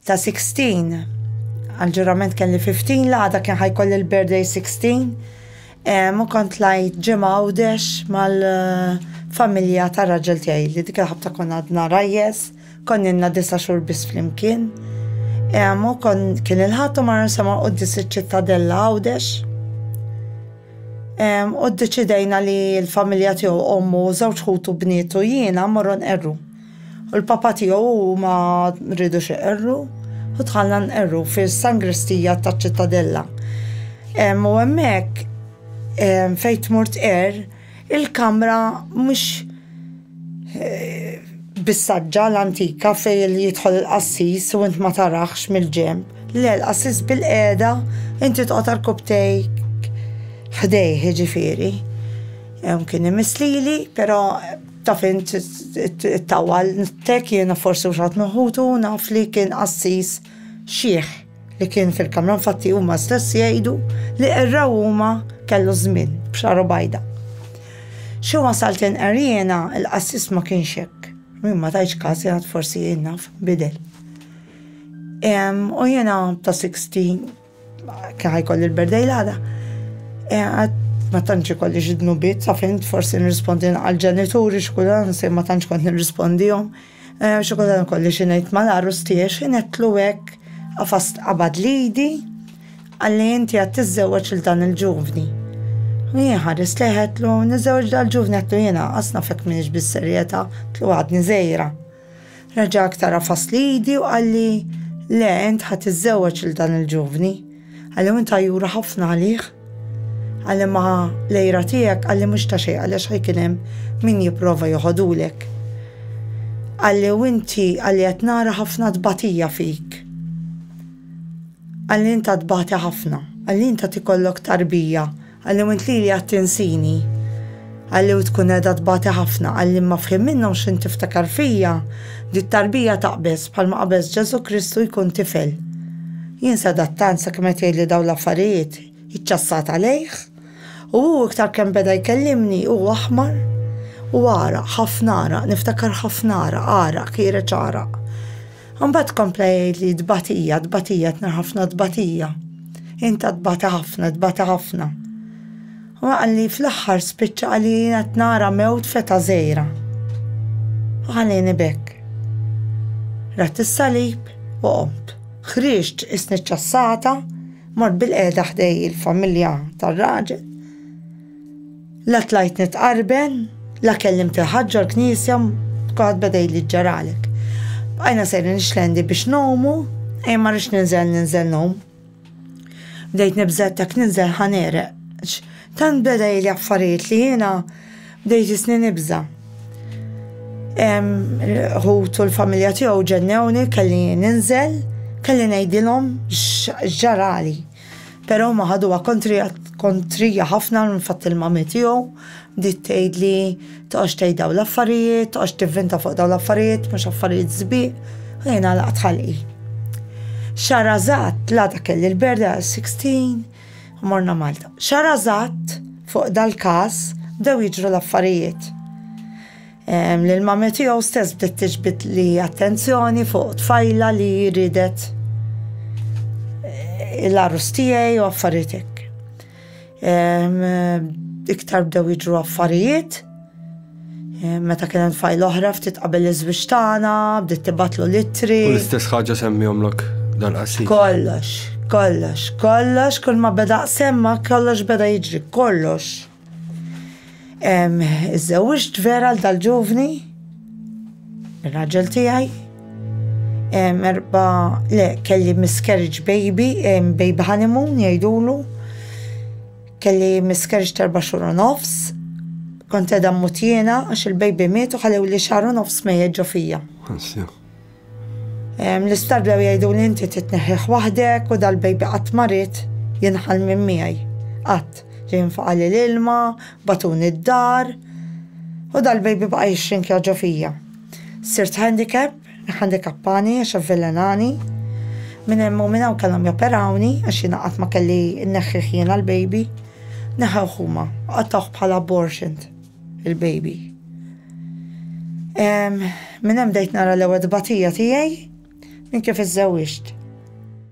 ta' Sixteen. Għall-ġurament kelli Fifteen, l-għada kien ħa jkolli l-birthday Sixteen. U kont lajt ġimgħa Għawdex mal-familja ta' raġel tiegħi li dik il-ħabta konna għadna rajjes, konninna disa' xhur biss flimkien. U kien il-Ħadd u marna nsemgħu quddies iċ-Ċittadella Għawdex. U ddeċidejna li l-familja tiegħu, ommu, żewġ ħutu bnietu, jiena mmorru nqerru. U l-Papa tiegħu u ma rridux iqerru u tħallna nqerru fis-sangristija taċ-Ċittadella. U hemmhekk fejn tmur tqerr il-kamra mhux bis-saġġa l-antika fejn jidħol il-qassis u int ma tarax mill-ġenb. Le, l-qassis bilqiegħda inti toqgħod għal kubtejk ħdejh jiġifieri. Kien imiss lili, però. Taf int it-tawal, tek jiena forsi mhux ħadd minn ħutu naf li kien qassis xiħ li kien fil-kamra infatti huma stess jgħidu li qerraw huma kellu żmien b'xagħru bajda. Xi wasalt inqer jiena il-qassis ma kienx hekk. Jien ma tajtx każ jien għad forsi jien naf bidel. U jiena ta' 60 Kien ħajkolli l-birthday l-għada. E, ma tantx ikolli xi dnubiet, sa fint forsi nirrispondi għal ġenituri x'kulhan se ma tantx kont nirrispondihom. E, xi kulhan ikolli xi ngħid mal-għarus tiegħi xi netlu hekk għafast qabad lidi għalli inti għad tiżżewweġ il dan il-ġuvni. Jien ħares leħetlu, niżewġ dal-ġuvni għattu jena, asna fek minix bis-serjeta, tlu għadni zejra. Reġa' aktar għafas l-idi u qalli, Le, int ħa tiżżewweġ lil dan il-ġuvni. Qalli, U int għajjura ħafna għalih? Qalli, Ma l-għira tiegħek, qalli, mhux ta' xejn għaliex ħa jkun hemm min jipprova joħodulek. Qalli, U inti, qalli, qed nara ħafna tbatija fik. Qalli, Int għad tbati ħafna. Qalli, Int għad ikollok tarbija. Qalli u int lili qed tinsini? Qalli u tkun qiegħda tbati ħafna? Qalli imma f'ħin minnhom x'int tiftakar fija? Di t-tarbija taqbeż bħalma qabeż Ġesù Kristu jkun tifel. Jien sedat tant sakemm qed jgħidli dawn l-affarijiet, iċċassat għalejh. U hu iktar kemm beda jkellimni hu aħmar u għaraq, ħafna għaraq, niftakar ħafna għaraq, għaraq, kiereċ għaraq. Imbagħad kompla jgħid li tbatija, tbatija, tna ħafna tbatija. Inta tbata ħafna, tbata ħafna. U għalli fl-axħar spiċċa għalli jina t-nara mewt feta zejra. U għalli nibek. Rat il-salib u qomt. Xriġt isni ċassata, mort bil-qeda ħdej il-familja tal-raġel La tlajt nitqarben, la kellimt il-ħadd ġol-knisja, kulħadd beda jgħidli x'ġaralek. Bqajna sejrin nixlendi biex ngħumu, ejja ma rridx ninżel ninżel ngħum. Bdejt nibża' jekk ninżel ħa negħreq. Tant beda jgħidli affarijiet li jiena bdejt jisni nibża'. Ħutu u l-familja tiegħu ġennewni kelli ninżel, kelli ngħidilhom x'ġarali. Però huma ħaduha kontrija ħafna l-fatt li l-mami tiegħu bdiet tgħidli toqgħodx tgħid dawn l-affarijiet, toqgħodx tivvinta fuq dawn l-affarijiet, mhux affarijiet sbieq, u jien għalaqt ħalqi. Xahar eżatt, l-għada kelli l-birthday għal 16 u morna Malta. Xahar eżatt fuq dal-każ bdew jiġru l-affarijiet. L-mami tiegħu stess bdiet tiġbid li attenzjoni fuq tfajla li ridet eh, l-arus tiegħi u affarijiet hekk. Iktar bdew jiġru affarijiet, eh, meta kien hemm tfajl oħra ftit qabel iż-żwieġ tagħna, bdiet tibatlu litri. U l-istess ħaġa semmihomlok dal-qasir. Kollox, kollox, kollox, kull ma beda semma kollox beda jiġri, kollox. Iżżewġt vera l dal-ġuvni, il-raġel tijaj, erba, le, kelli miscarriage baby, baby honeymoon jajdulu, kelli miscarriage terba xur u nofs, kont edha mut jena, għax il-baby miet u ħalewli xar u nofs mejjet ġo fija. L-isptar bdew jgħiduli inti trid tneħħih waħdek u dal-baby qatt ma ried jinħall minn miegħi. Qatt. Ġie jinfaqali l-ilma, bagħtuni d-dar u dal-baby baqa' jixxinkja ġo fija. Sirt handicap, iħandikappani għax avvelenani. Minn hemm u minn hawn kellhom joperawni għax jiena qatt ma kelli nneħħih jiena l-baby. Neħewh huma u qattgħuh bħala abortioned. il-baby. Minn hemm bdejt nara l-ewwel tbatija tiegħi minn kif iżżewwiġt.